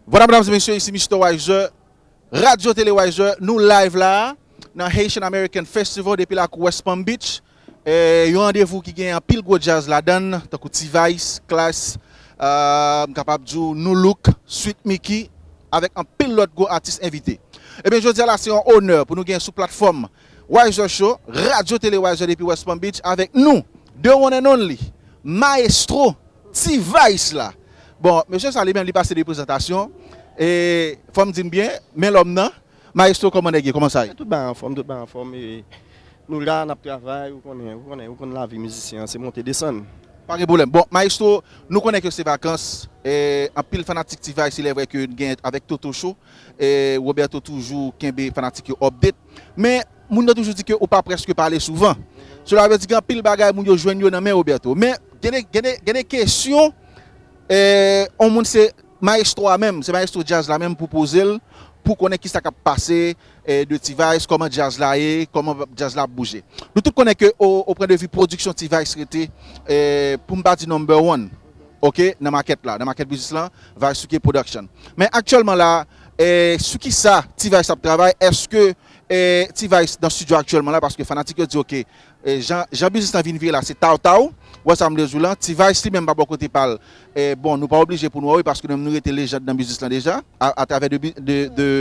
Voila medam e mesye isi Mister Wiser Radio Tele Wiser nou live la nan Haitian American Festival depi lakou West Palm Beach yon randevou ki gen anpil gwo djaz ladann tankou T-vice, Klass m kapab di w Nu Look, Sweet Micky avèk anpil lòt gwo atis envite. Ebyen jodi a la se yon onè pou nou gen sou platform Wiser Show, Radyo Tele Wiser depi West Palm Beach avèk nou, the one and only, Maestro T-Vice la. Bon, mesye sa li menm li pase de prezantasyon, e fò m di n byen, men lòm nan, Maestro kòman nèg ye, kòman sa ye? Tout bagay anfòm, tout bagay anfòm, e nou la n ap travay, ou konnen, ou konnen, ou konn lavi mizisyen an, se monte desann. Pa gen pwoblèm. Bon, Maestro, nou konnen ke se vakans, e anpil fanatik T-Vice, ilèvrè ke n gen avèk Toto Show, e Roberto toujou kenbe fanatik yo update. Men, moun yo toujou di ke ou pa preske pale souvan. Sela vle di gen anpil bagay moun yo jwenn yo nan men Roberto. Men, gen de kesyon, on moun se maestro a menm, se maestro djaz la menm pou poze l, pou konnen ki sa k ap pase de T-Vice, koman djaz la ye, koman djaz la ap bouje. Nou tout konnen ke o pwen de vi pwodiksyon T-Vice rete, pou m pa di number one, ok, nan makèt la, nan makèt biznis lan, Vice Suke Production. Men aktyèlman la, Sou kisa T-vice ap travay eske T-vice nan studio aktyèlman la paske fanatik yo di ok jan biznis lan vin vire la se taw taw ou wè sa mvle zou lan T-vice li menm pa bò kote pal bon nou pa oblije pou nou wè wi paske nou menm nou rete lejand nan biznis lan deja atravè de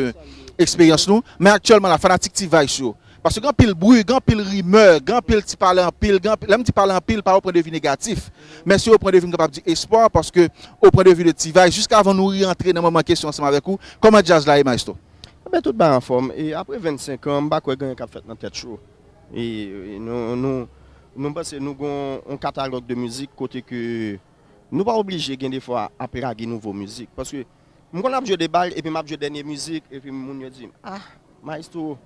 eksperyans nou men aktyèlman la fanatik T-vice yo Paske gen anpil bri, gen anpil rimè, gen anpil ti pale anpil, gen anpil, lè m di pale anpil pa yon pwen de vi negatif, men se yon pwen de vi m kapab di espwa, paske o pwen de vi de T-Vice, jiskavan nou reyantre nan manman kesyon ansanm avèk ou, kòman djaz la ye maestro? Enben tout bagay anfòm, e apre 25 an, m pa kwè gen anyen k ap fèt nan tèt cho, e nou, nou, nou panse nou gen yon katalòg de mizik kote ke nou pa oblije gen defwa ap lage nouvo mizik, paske. M konn ap jwe de bal epi m ap jwe dènye mizik epi moun yo di m ah maestro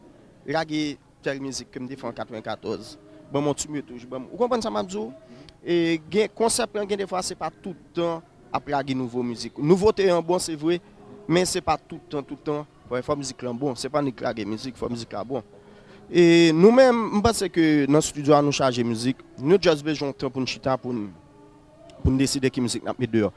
lage tèl mizik ke m te fè an 94 banm yon ti retouch banm ou konprann sa m ap di w gen konsèp lan gen de fwa se pa tout tan ap lage nouvo mizik nouvote an bon se vre men se pa tout tan tout tan fò mizik lan bon se pa nik lage mizik fò mizik la bon e nou menm m panse ke nan studio a nou chaje mizik nou just bezwen yon tan pou n chita pou n. Pou n deside ki mizik n ap met deyò.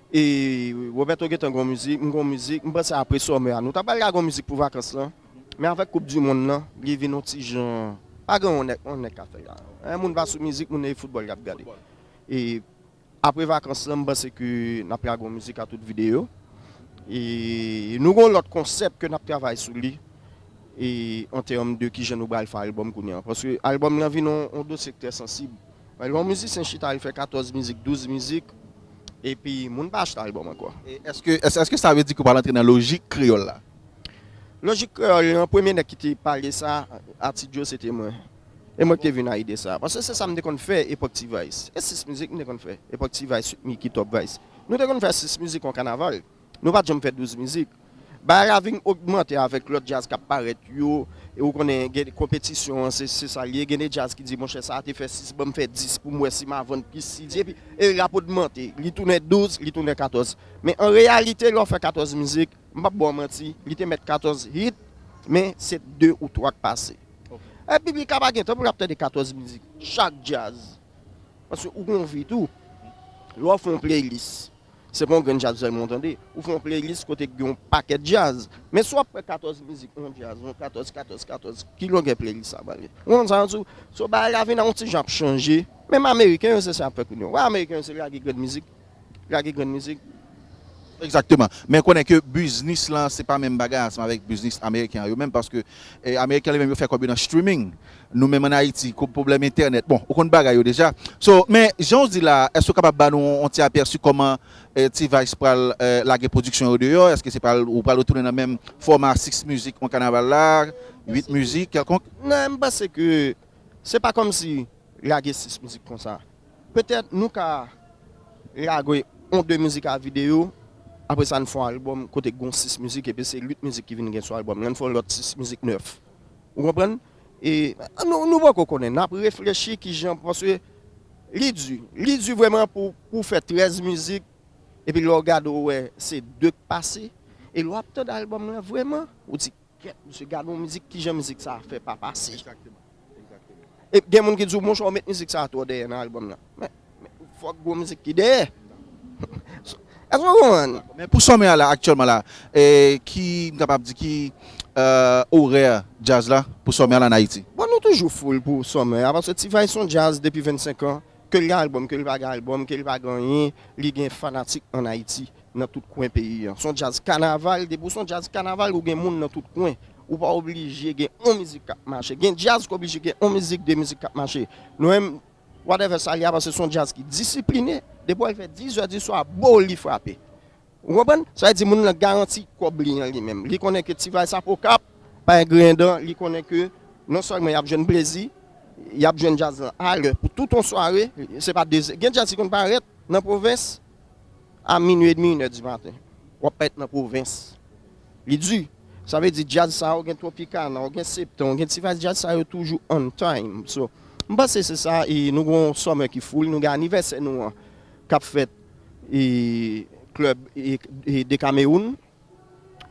E Roberto gentan gen yon mizik, m gen yon mizik. M panse apre Summer a nou ta pral lage yon mizik pou vakans lan. Men avèk koup di monn lan, li vin yon ti jan, pa gen yon nèg, yon nèg ka fè sa. Lè moun pa sou mizik, moun e foutbòl y ap gade. E apre vakans lan m panse ke n ap lage yon mizik a tout videyo. E nou gen yon lòt konsèp ke n ap travay sou li e an tèm de kijan nou pral fè albòm kounye a. Paske albòm lan vin yon dosye k trè sansib. Lè yon mizisyen chita li fè 14 mizik, 12 mizik, epi moun pa achete album ankò. Eske sa vle di ke w pa rantre nan lojik kreyòl la? Lojik kreyòl lan, premye nèg ki te pale sa a T-Djo se te mwen. E mwen ki te vin a ide sa a. Paske se sa m te konn fè epòk T-Vice. E 6 mizik m te konn fè epòk T-Vice, Micky, Top Vice. Nou te konn fè 6 mizik yon kanaval. Nou pat janm fè 12 mizik. Bagay la vin ogmante avèk lòt djaz k ap parèt yo. E ou konnen gen konpetisyon an, se sa l ye. Gen de djaz ki di monchè sa a te fè 6, ban m fè 10 pou m wè si m a vann plis CD. Epi e rap ogmante. Li tounen 12, li tounen 14. Men an reyalite lè w fè 14 mizik, m p ap ba w manti, li te mèt 14 hit, men se 2 ou 3 k pase. E piblik la pa gen tan pou l ap tande 14 mizik chak djaz. Paske ou gen yon vi tou. Lè w fè yon playlist. Se pa yon grenn djaz sèlman w tande. Ou fè yon playlist kote gen yon pakèt djaz. Men si w ap pran 14 mizik yon djaz, yon 14, 14, 14, ki longè playlist sa pral gen? Ou konprann sa m di w? So bagay la vin yon ti jan ap chanje. Menm ameriken yo se sa y ap fè kounye a. Ou wè ameriken yo se lage grenn mizik, lage grenn mizik. Egzakteman. Men konnen ke biznis lan se pa menm bagay ansanm avèk biznis ameriken an yo menm paske ameriken yo li menm yo fè kòb yo nan streaming. Nou menm an Ayiti, kou pwoblèm entènèt, bon, ou konn bagay yo deja. So, men, jan ou di la a, èske ou kapab ba nou yon ti apèsi kòman T-Vice pral lage pwodiksyon yo deyò? Èske se pral, ou pral retounen nan menm fòma 6 mizik yon kanaval la, 8 mizik kèlkonk? Nan, m panse ke se pa kòm si lage 6 mizik konsa. Petèt nou ka lage yon 2 mizik a videyo, apre sa n fè yon albòm kote gon 6 mizik epi se 8 mizik ki vin gen sou albòm lan, n fè yon lòt 6 mizik 9. Ou konprann? E nou poko konnen. N ap reflechi ki jan paske li di. Li di vrèman pou w fè 13 mizik epi lè w gade ou wè se 2 k pase. E lè w ap tande albòm lan vrèman ou di kèt mesye gade yon mizik ki jan mizik sa a fè pa pase. E gen moun ki di w monchè ou met mizik sa a twò dèyè nan albòm lan. Fòk gwo mizik ki dèyè. Èske ou konprann? Men pou sòmè a la aktyèlman la, ki m kapab di ki orè djaz la pou sòmè a la an Ayiti? Bon nou toujou full pou sòmè a paske T-vice son djaz depi 25 an, ke l gen albòm, ke l pa gen albòm, ke l pa gen anyen, li gen fanatik an Ayiti nan tout kwen peyi an. Son djaz kanaval, depi ou son djaz kanaval ou gen moun nan tout kwen. Ou pa oblije gen on mizik k ap mache. Gen djaz k oblije gen on mizik, de mizik k ap mache. Nou menm Whatever sa li a paske se yon djaz ki disipline, depi wè li fè 10 zè di swa boo li frape. Ou konprann? Sa vle di moun lan garanti kòb li an li menm. Li konnen ke ti vayb sa pa okap, pa gen griyen dan, li konnen ke non sèlman yap jwenn plezi, yap jwenn djaz lan a lè pou tout yon sware, se pa 2 zè. Gen djaz ki konn parèt nan pwovens, A minwi edmi inè di maten wap parèt nan pwovens li di sa vle di djaz sa ou gen tropicana ou gen septen ou gen ti vice djaz sa yo toujou on time so m panse se sa e nou gen yon summer ki full nou gen anivèsè nou an kap fèt e club e decameroun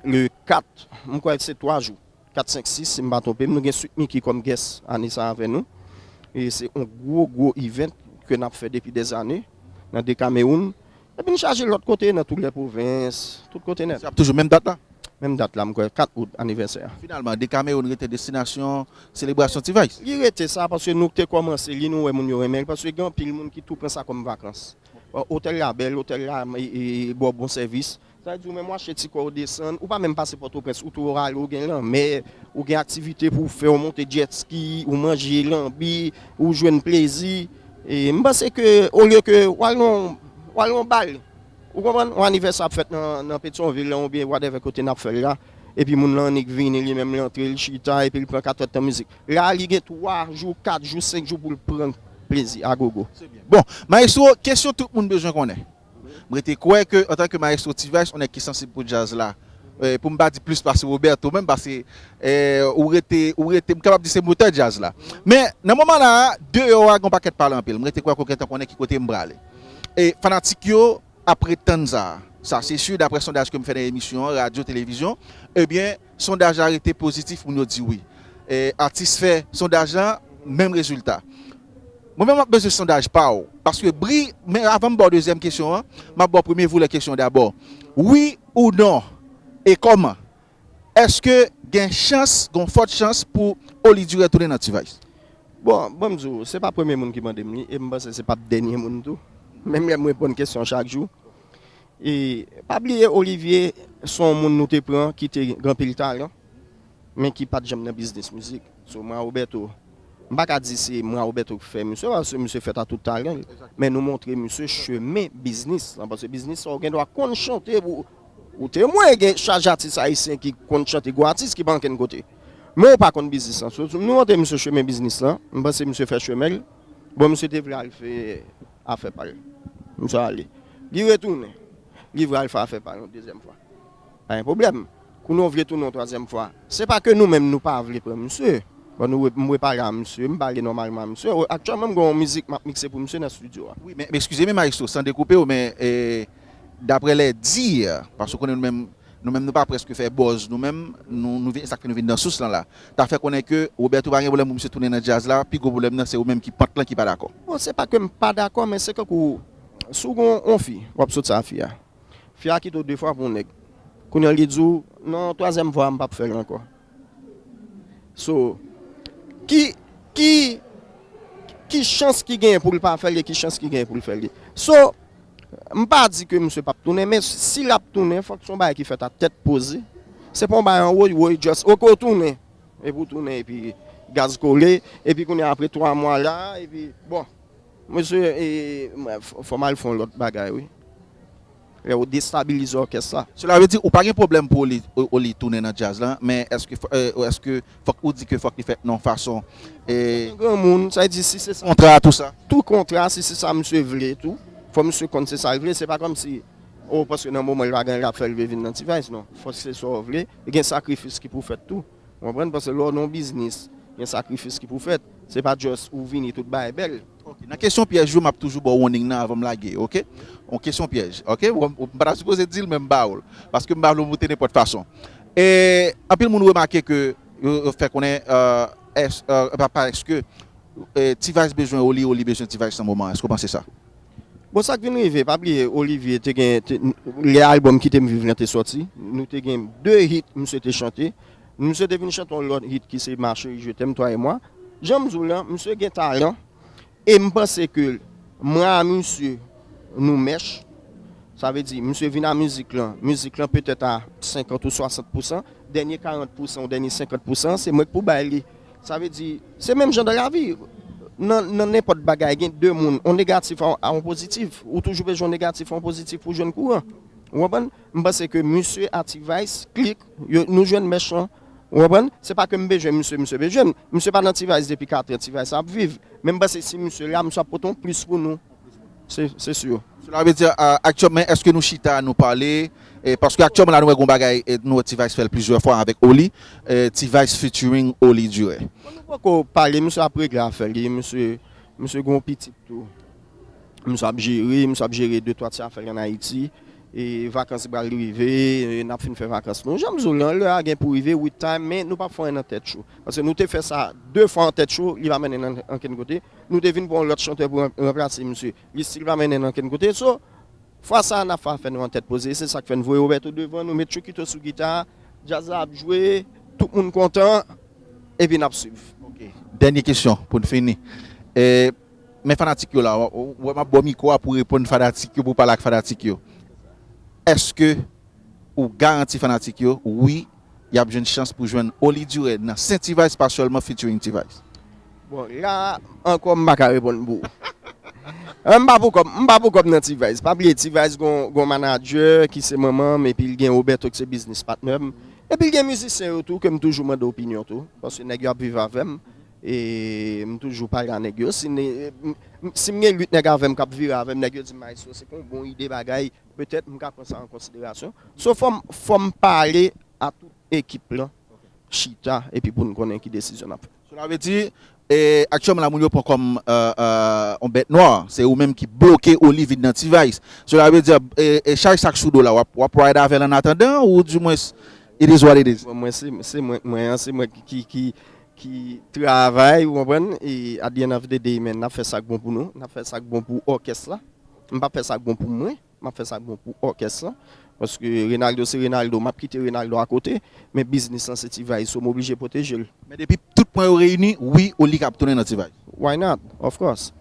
le 4 m kwè se 3 jou. 4 5 6 si m pa twonpe m nou gen Sweet Micky kòm guest ane sa avè nou e se yon gwo gwo event ke nap fè depi des années nan 2 Cameroun epi n chaje lòt kote nan tout lè pwovens tout kote nèt. Se ap toujou menm dat la? Menm dat la m kwè 4 out anivèsè a. Finalman 2 Cameroun rete destinasyon selebrasyon T-vice? Li rete sa paske nou te kòmanse li nou wè moun yo renmen l paske gen anpil moun ki tou pran sa kòm vakans otèl la bèl otèl la bò bon sèvis. Sa vle di ou menm wap chè ti kòw desann, ou pa menm pase pòtoprens ou tou Ohio ou gen lanmè, ou gen aktivite pouw fè ou monte jet ski, ou manje lanbi, ou jwenn plezi, m panse ke olye ke wal nan wal nan bal ou konprann yon anivèsè ap fèt nan petyonvil lan oubyen whatever kote nap fèl la epi moun lan annik vini li menm li antre li chita epil pran 4 èd tan mizik la li gen 3 jou 4 jou 5 jou poul pran plezi agogo. Bon, maestro, kesyon tout moun bezwen konnen. M rete kwè ke antanke Maestro T-Vice yon nèg ki sansib pou djaz la, pou m pa di plis pase Roberto menm paske ou rete, ou rete, m kapab di se motè djaz la. Men, nan moman la a, deyò a gen yon pakèt pale anpil. M rete kwè ke w gentan konnen ki kote m prale. E fanatik yo ap ret tann sa. Sa se si, daprè sondaj ke m fè nan emisyon, radyo, televizyon, ebyen, Sondaj la rete pozitif moun yo di wi. Atis fè sondaj lan menm rezilta. Mwen menm map bezwen sondaj pa w. Paske bri men avan m ba w dezyèm kesyon an map ba w premye volè kesyon dabò. Wi ou non e kòman èske gen chans gon fòt chans pou Oli Durè tounen nan T-vice? Bon banm di w se pa premye moun ki mande m li e m panse se pap dènye moun tou. Menm lè m reponn kesyon chak jou E pa bliye Olivier se yon moun nou te pran ki te gen anpil talan men ki pat janm nan biznis mizik. So Mwa Roberto m pa ka di se Mwa Roberto ki fè misye paske misye fèt a tout talan l men nou montre misye chemen biznis lan paske biznis sa ou gen dwa konn chante pou ou te mwen gen chaj atis ayisyen ki konn chante gwo atis ki pa ankenn kote men ou pa konn biznis lan. So nou montre misye chemen biznis lan m panse misye fè chemen l bon misye te vle al fè a fè pal. Misye ale. Li retounen. Li vral fè afè pal yon dezyèm fwa. Pa gen pwoblèm. Kounye a w vle tounen yon twazyèm fwa. Se pa ke nou menm nou pa vle pran misye. Bon nou wè m repale a misye. M pale nòmalman a misye. Aktyèlman m gen yon mizik m ap mikse pou misye nan studio a. Wi men, ekskize m e Maestro, san dekoupe w men, Dapre les dires, paske ou konnen nou menm, nou menm nou pa prèske fè bòz nou menm, nou nou vin, e sa k fè nou vin nan sous lan la. Ta fè konnen ke Roberto pa gen pwoblèm pou misye tounen nan djaz la, pi gwo pwoblèm nan se ou menm ki pant lan ki pa dakò. Bon, se pa ke m pa dakò men se kankou si w gen yon fi, w ap sot sa a fi a. Fi a kite w de fwa pou yon nèg. Kounye an li di w, non twazyèm fwa a m p ap fè l ankò. So ki ki ki chans ki genyen pou l pa fè l e ki chans ki genyen pou l fè l ye. So m pa di ke misye pap tounen men si l ap tounen fòk se yon bagay ki fèt a tèt poze. Se pa yon bagay an woy woy just ok ou tounen epi ou tounen epi gaz kole epi kounye a apre 3 mwa la epi bon. Mesye e fò m al fè yon lòt bagay wi. Lè ou destabilize òkès la. Sela vle di ou pa gen pwoblèm pou Oli tounen nan djaz la, men èske fòk ou di ke fòk li fèt nan yon fason. Mwen yon granmoun, sa vle di si se sa. Kontra a tou sa. Tou kontra a si se sa misye vle tou, fò misye konn se sa l vle, se pa kòmsi oh paske nan moman l pa genyen l ap fè l vle vin nan T-vice non. Fò se sa w vle, gen sakrifis ki pou fèt tou. Ou konprann paske lè w nan yon biznis, gen sakrifis ki pou fèt. Se pa just ou vini tout bagay bèl. Ok nan kesyon pyèj yo map toujou baw warning nan avanm lage ok yon kesyon pyèj ok m pata sipoze dil men m baw l paske m pa vle w moute nenpòt fason e anpil moun remake ke yo fè konnen èske pa èske T-vice bezwen Oli Oli bezwen T-vice nan moman èske w panse sa. Bon sak vin rive pa bliye Olivier te gen lè album kitem viv lan te sòti nou te gen 2 hit misye te chante. Misye te vin chante yon lòt hit ki se ma cherie je t'aime toi et moi janm di w lan misye gen talan e m panse ke mwen a misye nou mèch sa vle di misye vin a mizik lan mizik lan petèt a 50 ou 60 pousan dènye 40 pousan ou dènye 50 pousan an se mwen k pou bay li sa vle di se menm jan dan lavi nan nan nenpòt bagay gen 2 moun yon negatif a yon pozitif ou toujou bezwen yon negatif a yon pozitif pou w jwenn kouran ou konprann m panse ke misye a T-vice klik Yo nou jwenn mèch lan. Ou konprann? Se pa ke m bezwen misye, misye bezwen m. Misye pa nan T-Vice depi 4 an, T-Vice ap viv. Men m panse si misye la, misye ap pote yon plis pou nou. Se, se sur. Sela vle di, aktyèm, men èske nou chita, nou pale? Paske aktyèman la nou wè gen yon bagay, nou wè T-Vice fè l plizyè fwa avèk Oli. T-Vice featuring Oli Durè. Bon nou poko pale, misye ap regle afè li. Misye, misye gen yon pitit tou. Misye ap jere, misye ap jere de twa ti afè l an Ayiti. Vakans pral rive, nap fin fè vakans nou. Janm di w lan, lè a gen pou rive wi time men nou pap fè anyen nan tèt cho. Paske nou te fè sa 2 fwa an tèt cho, li pa mennen nan ankenn kote. Nou te vin pran yon lòt chantè pou ranplase misye, li stil pa mennen nan ankenn kote. So, fwa sa a nap fè afè nou an tèt poze. Se sak fè n voye Roberto devan, nou met Chokito sou gita, djaz la ap jwe, tout moun kontan, epi nap swiv. Ok, dènye kesyon pou n fini. Men fanatik yo la ou wè map baw mikro a pou reponn fanatik yo pou pale ak fanatik yo eske ou garanti fanatik yo wi yap jwenn chans pou jwenn Oly Durè nan sen T-vice pa sèlman featuring T-vice? Bon la ankò m paka reponn pou ou m pa pou kòm m pa pou kòm nan T-vice pa bliye T-vice gon manadjè ki se manman m epi l gen Roberto ki se biznis patnè m epi l gen mizisyen yo tou ke m toujou mande opinyon tou paske nèg yo ap viv avè m. E m toujou pale a nèg yo. Si m gen 8 nèg avè m k ap vire avè m, nèg yo di m Maestro se pa yon bon ide bagay, petèt m ka pran sa an konsiderasyon. So fò m pale a tout ekip lan, chita epi pou n konnen ki desizyon n ap fè. Sela vle di, aktyèlman la moun yo pran kòm yon bèt nwa, se ou menm ki bloke Olivid nan T-Vice. Sela vle di, chaj sa k sou do la, w ap ride avè l annatandan ou dimwens it is what it is? Mwen se mwen k mwen an, se mwen ki. ki travay ou konprann e at di ènn òf de dey men nap fè sak bon pou nou nap fè sak bon pou òkès la m pap fè sak bon pou mwen map fè sak bon pou òkès la paske Renaldo se Renaldo map kite Renaldo a kote men biznis lan se T-vice so m oblije pwoteje l. Men depi tout pwen yo reyini wi ou li kap tounen nan T-vice. Why not? Of course!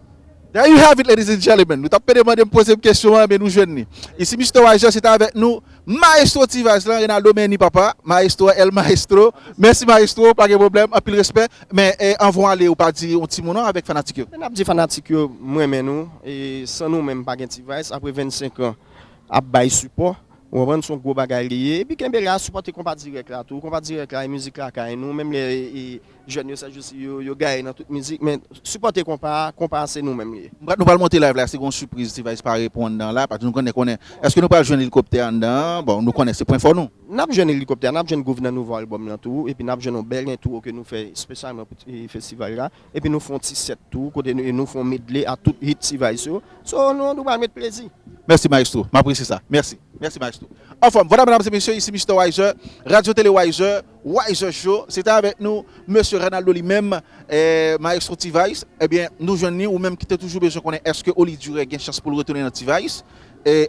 There you have it ladies and gentlemen, nou tap pede mandem pozem kesyon an ebyen nou jwenn li isi Mister Waiger se ta avèk nou maestro T-vice lan Renaldo Menni papa maestro el maestro mèsi maestro pa gen pwoblèm anpil respè men anvan w ale ou pa di yon ti mo non avèk fanatik yo. Nap di fanatik yo m renmen nou e san nou menm pa gen T-vice apre 25 ans ap bay sipò ou konprann son gwo bagay li ye epi kenbe la sipòte konpa dirèk la tou konpa dirèk la e mizik lakay nou menm lè e Jèn yo sèjousi yo, yo gaye nan tout mizik men sipòte konpa a, konpa a se nou menm li ye. Nou pral monte live la si gon sipriz T-vice pa repon anndan la paske nou konnen konnen eske nou pral jwenn elikoptè anndan an bon nou konnen se pwen fò nou. Nap jwenn elikoptè a, nap jwenn Gouv nan nouvo album lan tou epi nap jwenn yon bèl entwo ke nou fè spesyalman pou festival la epi nou fè yon ti sèt tou kote nou fè yon medley a tout hit T-vice yo so nou nou pral met plezi. Mèsi maestro, m apresye sa. Mèsi. Mèsi maestro. Anfòm. Vwala medam e mesye isi Mister Wiser, Radio Tele Wiser. Way jòj yo se te avèk nou mesye Renaldo li menm maestro T-vice ebyen nou jwenn li ou menm ki te toujou bezwen konnen èske Oli Durè gen chans pou l retounen nan T-vice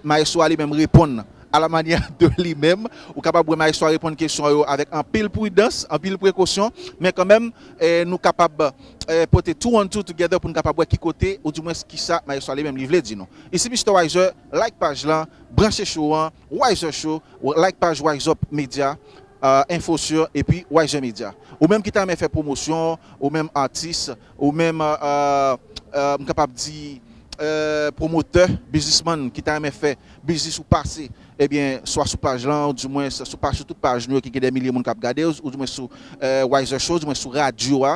maestro a li menm reponn a la manyè de li menm ou kapab wè maestro a reponn kesyon yo avèk anpil pridans anpil prekosyon men kanmenm nou kapab pote two and two together pou n kapab wè ki kote ou di mwens kisa maestro a li menm li vle di nou isi Mister Wiser like paj lan branche show an. Wiser Show, like paj Wiseup Media info sur epi Wiser Media. Ou menm ki ta renmen fè pwomosyon ou menm atis, ou menm m kapab di pwomotè, biznisman ki ta renmen fè biznis ou pase ebyen swa sou paj lan ou di mwens sou paj sou tout paj nou yo ki gen dè milye moun kap gade ou di mwens sou Wiser Show ou di mwens sou radyo a